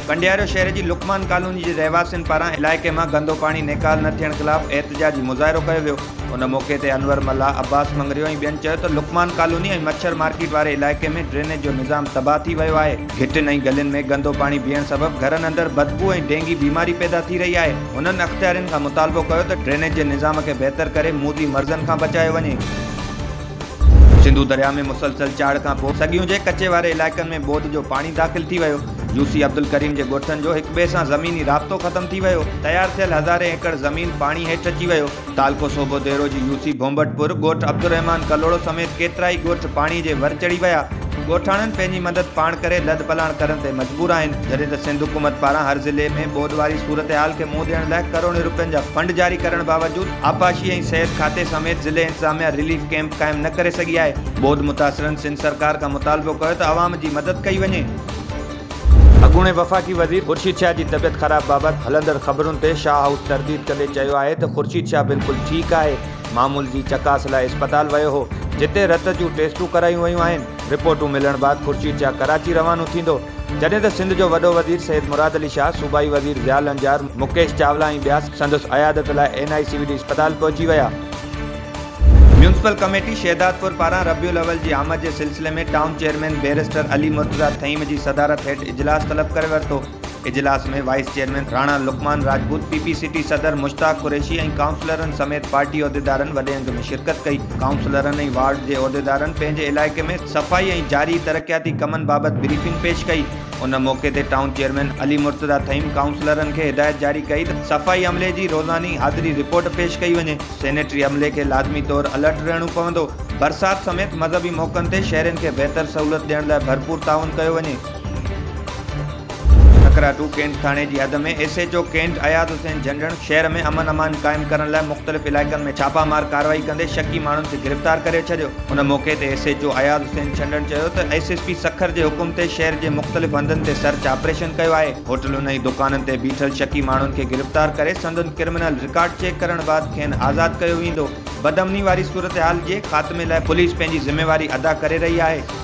ڪنڊيارو شهر جي لقمان ڪالوني جي رهواسين پاران علائقي مان گندو پاڻي نيڪال نه ٿيڻ خلاف احتجاجي مظاهرو ڪيو ويو ان موقعي تي انور ملاح عباس مڱريو ۽ ٻين چيو ته لقمان ڪالوني ۽ مڇر مارڪيٽ واري علائقي ۾ ڊرينيج جو نظام تباهه ٿي ويو آهي گهٽين ۽ گلين ۾ گندو پاڻي بيهڻ سبب گهرن اندر بدبو ۽ ڊينگي بيماري پيدا ٿي رهي آهي، هنن اختيارين کان مطالبو ڪيو ته ڊرينيج جي نظام کي بهتر ڪري موذي مرضن کان بچايو وڃي. سنڌو درياء ۾ مسلسل چاڙهه کان پوء سڳيون جي ڪچي واري علائقن ۾ ٻوڏ جو پاڻي داخل ٿي ويو، يو سي عبدالڪريم جي ڳوٺن جو هڪٻئي سان زميني رابطو ختم ٿي ويو، تيار ٿيل هزارين ايڪڙ زمين پاڻي هيٺ اچي ويو. تعلقو صوبو ديرو جي يو سي ڀونڀٽپور ڳوٺ عبدالرحمان ڪلهوڙو سميت ڪيترائي ڳوٺ پاڻي جي ور چڙهي ويا، ڳوٺاڻن پنهنجي مدد پاڻ ڪري لڏپلاڻ ڪرڻ تي مجبور آهن، جڏهن ته سنڌ حڪومت پاران هر ضلعي ۾ ٻوڏ واري صورتحال کي منهن ڏيڻ لاء ڪروڙين رپين جا فنڊ جاري ڪرڻ باوجود آبپاشي ۽ صحت کاتي سميت ضلعي انتظاميا رليف ڪئمپ قائم نه ڪري سگهي آهي، ٻوڏ متاثرن سنڌ سرڪار کان مطالبو ڪيو ته عوام جي مدد ڪئي وڃي. اڳوڻي وفاقي وزير خورشيد شاهه جي طبيعت خراب بابت هلندڙ خبرن تي شاهه هائوس ترديد ڪندي چيو آهي ته خورشيد شاهه بلڪل ٺيڪ آهي، معمول جي چڪاس لاء اسپتال ويو هو، جتي رت جون ٽيسٽون ڪرايون ويون آهن، رپورٽون ملڻ بعد خورشيد شاهه ڪراچي روانو ٿيندو، جڏهن ته سنڌ جو وڏو وزير سيد مراد علي شاهه، صوبائي وزير ضياء لنجار، مڪيش چاولا ۽ ٻيا سندس عيادت لاء N I C V D اسپتال پهچي ويا. ميونسپل ڪميٽي شهدادپور پاران ربيع الاول جي آمد جي سلسلي ۾ town chairman barrister Ali Murtaza Thaheem جي صدارت هيٺ اجلاس طلب ڪري ورتو. اجلاس ۾ vice chairman Rana Luqman Rajput, P P C T صدر مشتاق قريشي ۽ ڪائونسلرن سميت پارٽي عهديدارن وڏي انگ ۾ شرڪت ڪئي. ڪائونسلرن ۽ وارڊ جي عهديدارن پنهنجي علائقي ۾ صفائي ۽ جاري ترقياتي ڪمن بابت بريفنگ پيش ڪئي. ان موقعي تي ٽائون چيئرمين علي مرتضيٰ ٿهيم ڪائونسلرن کي هدايت جاري ڪئي ته صفائي عملي جي روزاني حاضري رپورٽ پيش ڪئي وڃي، سينيٽري عملي کي لازمي طور الرٽ رهڻو پوندو، برسات سميت مذهبي موقعن تي شهرين کي بهتر سهولت ڏيڻ لاء ڀرپور تعاون ڪيو وڃي. ٺڪرا ٽو ڪينٽ ٿاڻي جي حد ۾ S H O cantt Ayaz Hussain Jhandan شهر ۾ امن امان قائم ڪرڻ لاء مختلف علائقن ۾ ڇاپا مار ڪارروائي ڪندي شڪي ماڻهن کي گرفتار ڪري ڇڏيو. ان موقعي تي S H O Ayaz Hussain Chhandan چيو ته ايس ايس پي سکر جي حڪم تي شهر جي مختلف هنڌن تي سرچ آپريشن ڪيو آهي، هوٽلن ۽ دڪانن تي بيٺل شڪي ماڻهن کي گرفتار ڪري سندن ڪرمنل رڪارڊ چيڪ ڪرڻ بعد کين آزاد ڪيو ويندو، بدامني واري صورتحال جي خاتمي لاء پوليس پنهنجي ذميواري ادا ڪري رهي آهي.